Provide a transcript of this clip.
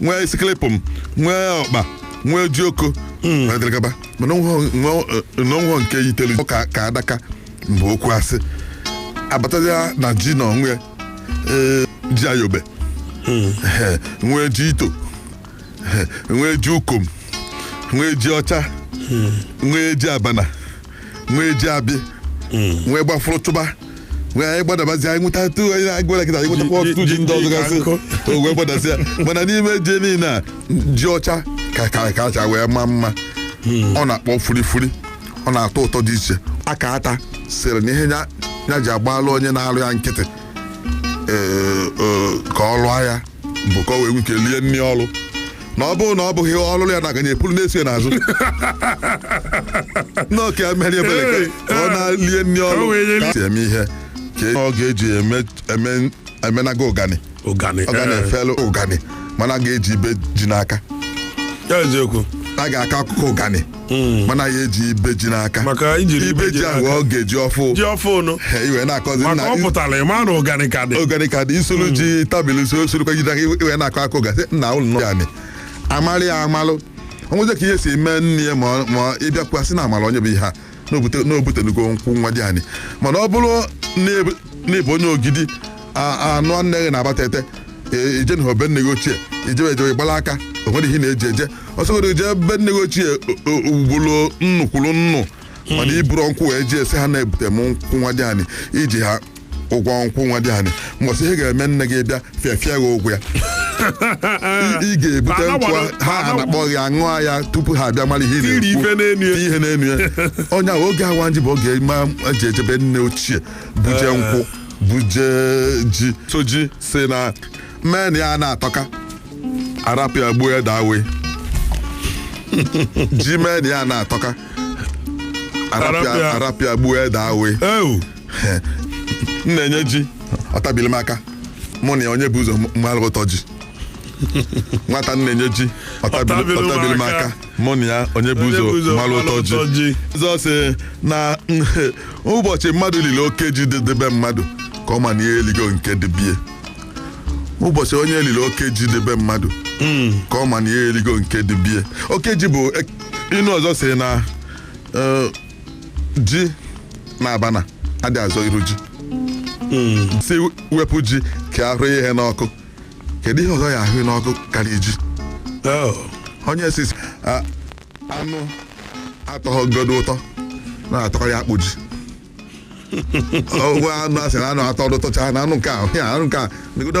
nwee isikilipụm nwee ọkpa nwee jioko na dịrị gaba mana o nweghọ nke yiteli ka ka adaka mgbe okwu a sị abatazia na ji na o nwee ji ayobe Ehe, nwee ji ito Ehe, nwee ji ukom nwee ji ọcha nwee ji abana nwee ji abị nwee gbafụrụ chụba nwee anyị gbadabazi anyị nweta tu anyị na-agwara kịta anyị nwetakwa Ji- ọtụtụ ji ji- ndị ọzọ ji gasị nkụ. o wee gbadazi ya mana n'ime ji niile a ji ọcha ka ka ka acha wee maa mma ọ na-akpọ furifuri ọ na-atọ ụtọ dị iche aka ata sịrị na ihe ya ya ji agbalụ onye na-arụ ya nkịtị ee, ee, ka ọ lụọ ya bụ ka o wee nwee ike lie nri ọrụ na ọ bụrụ na ọ bụghị ọrụ ya na-aganye epulu na-esi ya n'azụ n'oke ya mere ebere ka- ka ọ na-lie nri Ka o ọrụ wee nye ka si eme ihe ka ọ ga-eji eme- eme- emenaga ụganị ụganị ọ ga na-efelu ụgani mana a ga-eji ibe ji n'aka ya eziokwu a ga-akọ akụkọ ụganị mana ya eji ibe ji n'aka Maka ijiri ibe ibe ji ji ahụ n'aka. ọ ga-eji ọfụ ji ọfụ ụnụ He, i wee na-akọzi maka nna ọ pụtara ị ma na ụganị ka dị oganika dị i solu ji tabili so sorokwa jide aka i wee na-akọ akụkọ ụganị nna ụlọ nọ ya nị amarị ya amalụ o nwezie ka ihe si mee nne ya ma ọ- ma ọ ị bịakwa sị na amara onye bụ ihe a na o butenugo nkwụ nwadịanị mana ọ bụrụ na ị bụ onye Ogidi a nụ nne gị n'Abatete i je na be nne gị ochie i jebe ejebe gbala aka o nwere ihe na-eji eje ọ sọgodo i je be nne gị ochie ugboro nnu kwuru nnu mana i buru nkwụ wee jee sị ha na-ebute m nkwụ nwadịanị i ji ha ụgwọ nkwụ nwadịanị mbọsị ihe ga-eme nne gị bịa fịafịa gị ụgwọ ya ị ga-ebute nkwụ ha anakpọ gị aṅụọ ya tupu ha abịa mara ihe na-ekwu ihe na-enu ya onye ahụ oge ịwa ji bụ oge ma e ji eje be nne ochie buje nkwụ buje ji sọ ji sị na men ya na-atọka a rapụ ya gbuo ede awaị ji men ya na-atọka a rapụ ya A rapụ ya. a rapụ ya gbuo ede awaị ewu m na-enye ji ọ tabiri m aka mụ na ya onye bụ ụzọ mara ụtọ ji nwata m na-enye ji ọ tabiri- ọ tabiri m aka mụ na ya onye bụ Onye bụ ụzọ ụzọ mara mara ụtọ ụtọ ji ji. ọzọ sị na ụbọchị mmadụ liri oke ji dị be mmadụ ka ọ ma na ihe eligo nke dị be ya ụbọchị onye liri oke ji dị be mmadụ ka ọ ma na ihe eligo nke dị be ya oke ji bụ ek- inu ọzọ sị na eh, ji na abana adị azọ iru ji sị wepụ ji ka a hụ ihe n'ọkụ kedu ihe ọzọ a ya-ahụ n'ọkụ karịa ji Oh, onye sị sị a- anụ atọghọgodo ụtọ na-atọkarị akpụ ji ọgwụ anụ a sị na anụ atọ ụtọcha na anụ nke a ya anụ nke a negodo